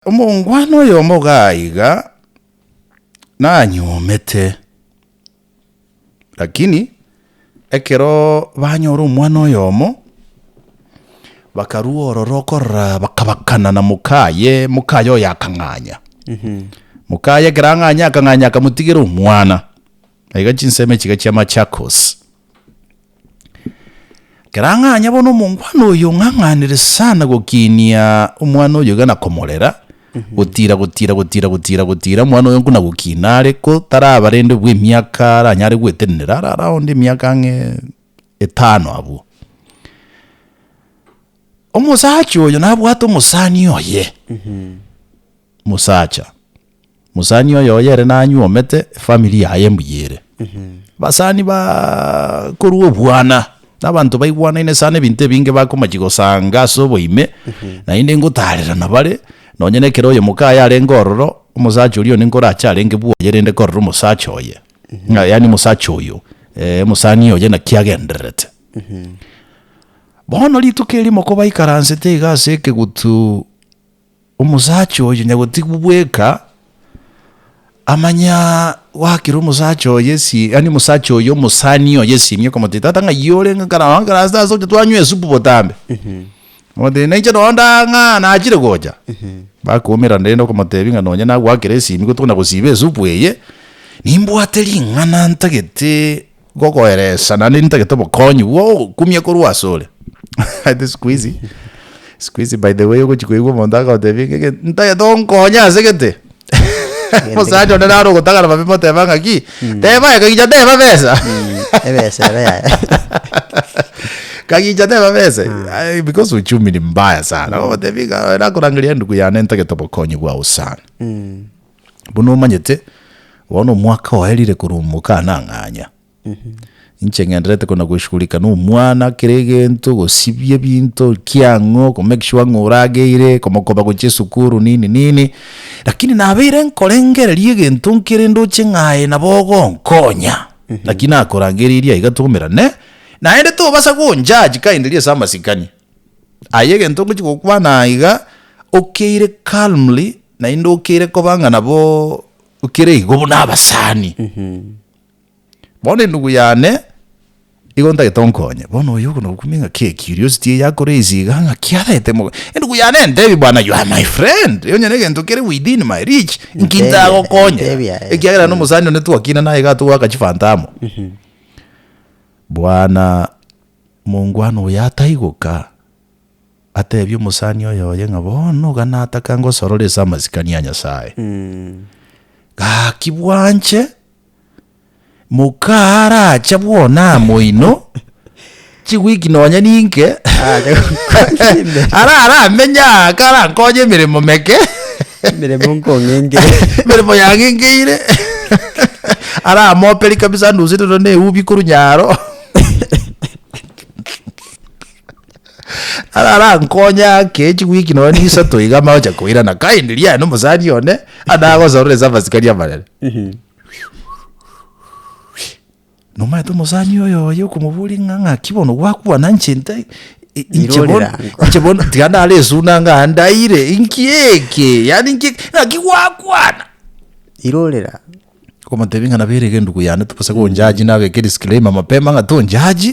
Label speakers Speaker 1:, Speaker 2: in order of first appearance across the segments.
Speaker 1: Omongwana oyomo gaiga nanyuomete, lakini ekero banyora omwana oyomo, bakarua ororo okorora bakabakana na mokaye, mokaye oyo akang'anya. Mokaye ekero ang'anya akang'anya akamotigera omwana. Na iga chinsemo echi iga chia Machakos. Kerang'anya bono omongwana oyo ong'ang'anire sana gokinia omwana oyo iga na komorera, gotira, gotira, gotira, gotira, gotira, omwana oyo buna gokina are ko taraba rende bwe emiaka aranyare gwetenenera, are around emiaka ang'e etano abwo. Omosacha oyo nabwate omosani oye, mosacha mosani oye oye ere nanyuomete efamiri yaye mbuya ere. Abasani ba korwa obwana na abanto baigwanaine sana ebinto ebinge bakomachi gosanga ase oboime naende ngotarera nabare nonye na ekero oyomoka aye arenge ororo omosacha oria one nkorache arenge bwoye rende korora omosacha oye ng'a yaani omosacha oyo omosani oye naki agendererete. Bono rituko erio mokobaikaransete iga ase ekegutu. Omosacha oyo nyagotigwa bweka, amanya goakera omosacha oye esi, yaani omosacha oyo omosani oye esimi, okamotebia, Tata ng'ai ore ng'a kare nonya kare ase tasa oche twanywa esupu botambe? Akamotebia, Nainche nonya ndagaka ng'a nachire gocha. Bakoumerana rende okamotebia ng'a nonya nagoakera esimi gotokona gosiba esupu eye, nimbwate ring'ana ntagete Ngokoeresa naende nitagete obokonyi bw'ogokumia korwa asore. Ati sikuizi, sikuizi by the way ogochi koigwa omonto agotebi ng'a egento nitagete onkonye ase gete. Omosacha onde naro ogotagana mabe moteba ng'a ki? Teba aye kagicha teba besa. Ebesa ebe yaye. Kagicha teba besa. Aye because uchumi ni mbaya sana. Ogotebi ng'a oye nakorangeria endugu yane nitagete obokonyi bwao sana. Buna omanyete, bono omwaka oye rire korumoka anang'anya. Inche ng'enderete kona goshugurika na omwana, kera egento, gosibia ebinto, ki ang'o, ko make sure ng'a orageire, komokoba gochia esukuru, nini nini. Lakini nabeire nkorengereria egento nkere ndoche ng'a aye nabo ogonkonya. Naki nakorangeirie aiga twaumerane, naende tobasa gonjudge kaende riria ase amasikani. Aye egento ngochia gokwana aiga, okeire calmly, naende okeire koba ng'a nabo okere igo buna abasani. Bono endugu yane, igo ntagete onkonye, bono oyo okono okumia ng'a ki curiosity eye ya raise iga ng'a ki arete mobe. Endugu yane entebie bwana you are my friend, onye negento kere within my reach, nki Ntebia, ntagokonye? ntebia, eh, Ekiagera na eh. omosani one twakinana iga atogaka chifanta amo. Bwana Omongwana oyo ataigoka, ateebia omosani oyoye ng'a bono iga nataka ngosorore ase amasikani a Nyasae. Gaki bwanche, moka arache bwona amo inwe, chiwiki nonya ninke, ara aramenye aa karankonye emeremo meke, Emeremo
Speaker 2: nkong'engeire. emeremo
Speaker 1: yang'engeire, aramoperie kabisa anuseterwe neubi korwa nyaro. ararankonye ake echigwiki nonya nisato iga amagocha koirana kaindi riaye nomosani one adagosorora ase abasikari abanene nomaete omosani oyo oye okomoboria ng'a ng'aki bono gwakwana inche nte i- inche bono Irorera. inche bono tiga nare esuna ng'a ndaire inki eke yaani inki eke ng'aki gwakwana
Speaker 2: irorera Okomotebia
Speaker 1: ng'a nabo erege endugu yane gose gonjaji nabeke disclaimer mapema ng'a tonjaji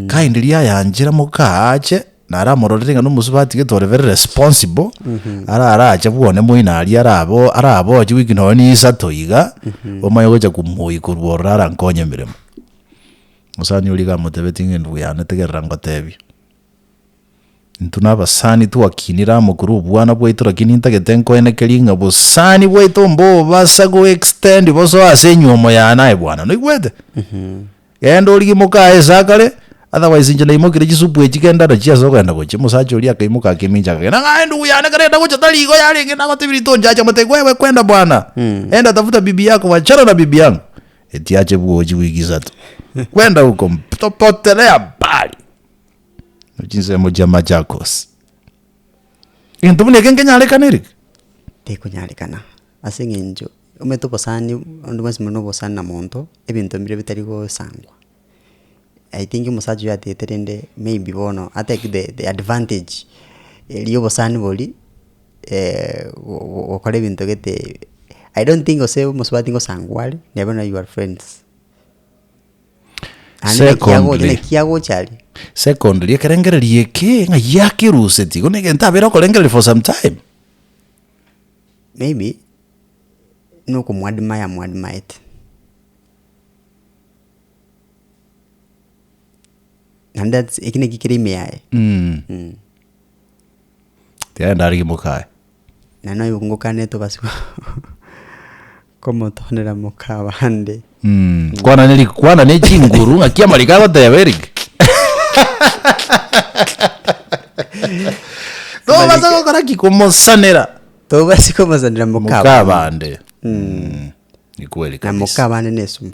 Speaker 1: kaende riria ayanchera moka ache naro amororere ng'a nomosuba atigete ore very responsible ara arache bwone moino aria arabo araboche week nonya na isato iga omanye gocha komoiyia korwa ororo arankonye emeremo. Mosani oria iga amotebetie ng'a endugu yane tegerera ngotebie. Intwe nabasani twakinire amo korwa obwana bwaito lakini intagete nkoenekerie ng'a bosani bwaito mbobasa go extend boso ase enyuomo yane aye bwana noigwete? Genda origie moka aye sakare otherwise inche naimokirie chisupu echi genda nachio ase ogenda gochia. Mosacha oria akaimoka akemincha akagenda ng'a aye ndugu yane kare enda gocha tari igo yarenge nagotebirie tonchache mote wewe kwenda bwana enda tafuta bibi yako wachana na bibi yangu etiache bwochi wiki isato kwenda huko mpo- potelea mbali. Chinsemo chia Machakos. Egento buna eke nkenyarekaniri? Tekonyarekana,
Speaker 2: ase eng'encho omanyete obosani, abanto bonsi mbare nobosani na monto, ebinto mbire bitari gosangwa. I think omosacha oyo atete rende maybe bono a take the advantage eria obosani bori gokora ebinto gete, I don't think gose omosubati ngosangwa are, neba naye you are friends. Naende naki agocha, Secondly- naki agocha aria. Secondly,
Speaker 1: ekerengererio eke ng'a yakerusetie, igo negento abeire okorengereria for some time. Maybe,
Speaker 2: nokomoadmire amoadmaete. Naende that's eke naki kere ime yaye.
Speaker 1: Tiga endara rimoka aye. Na noyo
Speaker 2: ngokane tobase komotonera moka abande. Mm. Kwana ne rig-
Speaker 1: kwana ne chinguru ng'aki amariko agoteba erig. Tobase gokora ki komosanera Tobase
Speaker 2: komosanera moka moka abande. abande.
Speaker 1: Mm. Ni kweli Na moka kabisa. abande nesumu.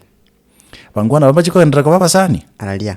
Speaker 2: Bangwana
Speaker 1: babache koenderera koba abasani. Araria.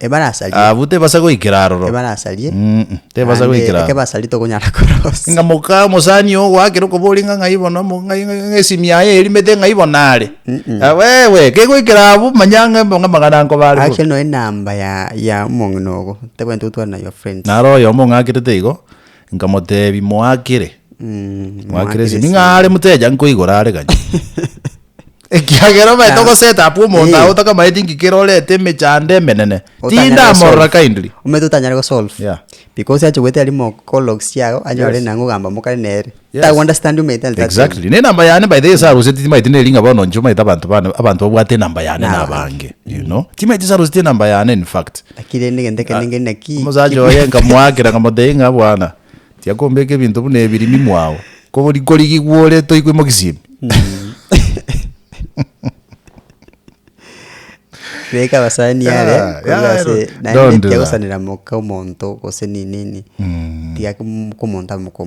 Speaker 1: Ebarasarie.
Speaker 2: Abwo tebasa goikera
Speaker 1: aroro. Ebarasarie. Mm-mm,
Speaker 2: tebasa Naende
Speaker 1: goikera eke aroro. basarie tokonyara
Speaker 2: korosia. Inga moka mosani
Speaker 1: ogo goakera okoboria inga ng'ai bono mo- ng'ai- ng'ai- ng'ai esimi yaye erimete ng'ai bono are. Ah, wewe, kegoikera abwo manya ng'a mbe- ng'amang'ana nkoba are bo. Actually no enamba ya
Speaker 2: ya omong'ina ogo. Tebwenerete gotwara na your friends. Naro oyomo ong'akerete
Speaker 1: igo, Nkamotebi, Moakire? Mm, Moakire ase ning'a are muteja nkoigora are gani. Ekiagera omaete Naam. ogoset up omonto Eh. aye otakamaeti nki kere orete emechando emenene. Otanyare Tindamorora gosolve. kindly. omanyete otanyare gosolve
Speaker 2: Yeah. because ache
Speaker 1: goetera
Speaker 2: rimo call logs chiago anyore Yes. nang'o ogamba mokare nere Yes. tago understand your mental that Exactly. Ne namba yane
Speaker 1: by the way saruseti timaeti neri ng'a bono inche omaete abanto bane abanto babwate enamba yane Naba. nabange. You know? Timaeti saruseti enamba yane in fact. Naki rende egento ekende
Speaker 2: ngeria naki Omosacha oye nkamoakera,
Speaker 1: nkamotebia ng'a, Bwana, tiakombeka ebinto buna ebi rimi mwao, kogori korigigwa ore toigwe mogisimi.
Speaker 2: Beka abasani Yeah, are yeah, korwa yeah, ase naende don't do that. tiagosanera moka omonto gose ninini tiga komonto abe moka omonto.